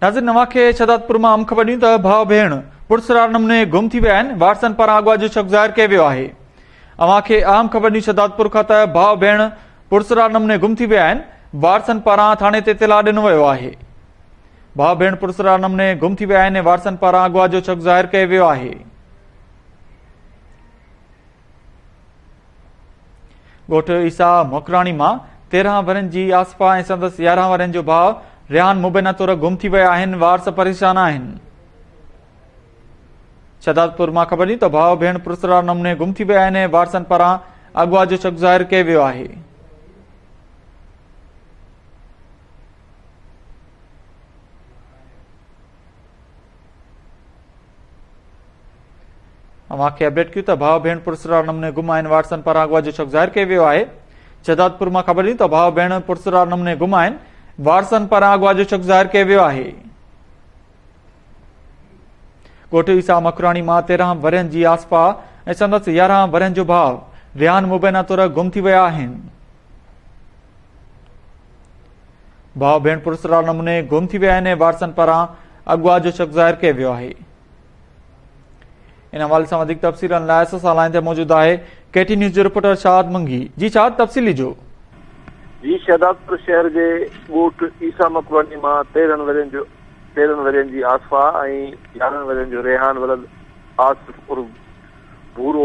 ناظرين اوهان کي شهدادپور مان اهم خبر ڏيون ته ڀاء ڀيڻ پرسرار نموني گم ٿي ويا آهن وارثن پاران اغوا جو شڪ ظاهر ڪيو ويو آهي اوهان کي اهم خبر ڏيون شهدادپور کان ته ڀاء ڀيڻ پرسرار نموني گم ٿي ويا آهن وارثن پاران ٿاڻي تي اطلاع ڏنو ويو آهي ڀاء ڀيڻ پرسرار نموني گم ٿي ويا آهن وارثن پاران اغوا جو شڪ ظاهر ڪيو ويو آهي ڳوٺ عيسيٰ موکراڻي مان تيرهن ورهين جي آصفا ۽ سندس يارهن ورهين جو ڀاء ريحان مبينا طور گم ٿي ويا آهن وارث پريشان آهن شهدادپور مان خبر ڏني ته ڀاء ڀيڻ پرسرار نموني گم ٿي ويا آهن وارثن پاران اغوا جو شڪ ظاهر ڪيو ويو آهي اوهان کي اپڊيٽ ڪيون ته ڀاء ڀيڻ پرسرار نموني گم آهن واٽسن پاران اغوا جو شڪ ظاهر ڪيو ويو آهي شهدادپور مان خبر ڏني ته ڀاء ڀيڻ پرسرار نموني گم آهن وارسن پاران اغوا جو شڪ ظاهر ڪيو ويو آهي ڳوٺ عيسا مکراڻي مان تيرهن ورهين جي آسپا ۽ سندس يارهن ورهين جو ڀاء ريان مبينا طور گم ٿي ويا آهن ڀاء ڀيڻ پرسرار نموني گم ٿي ويا آهن ۽ وارثن پاران اغوا جو شڪ ظاهر ڪيو ويو آهي ان حوالي سان وڌيڪ تفصيلن لاء اسان سان لائن تي موجود آهي ڪي ٽي نيوز جو رپورٽر شاد منگي جي شاد تفصيل ڏجو جي شهدادپور شهر جي ڳوٺ عيسا مڪواني مان تيرهن ورهين جو تيرهن ورهين جي آصفا ۽ يارهن ورهين جو ريحان ولد آصف عرب ڀورو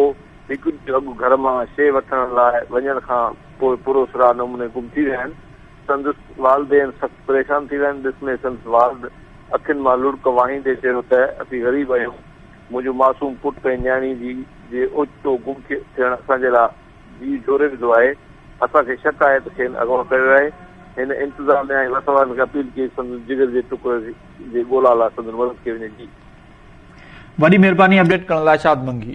هڪ ڏينهن اڳ گهر مان شيء وٺڻ لاء وڃڻ کان پوء پراسرار نموني گم ٿي ويا آهن. سندس والدين سخت پريشان ٿي ويا آهن. ڏس ۾ سندس والد اکين مان لڙڪ وهائيندي چيو ته اسين غريب آهيون. منهنجو معصوم پٽ ۽ نياڻي جي جي اوچتو گم ٿيڻ اسان جي لاء جيء جهوري وڌو آهي. اسان کي شڪ آهي ته کين اغوا ڪيو آهي. هن انتظاميا ۽ وسوارن کي اپيل ڪئي ته سندس جگر جي ٽڪر جي ڳولا لاء سندن مدد ڪئي وڃي. جيء. وڏي مھرباني اپڊيٽ ڪرڻ لاء شاد منگي.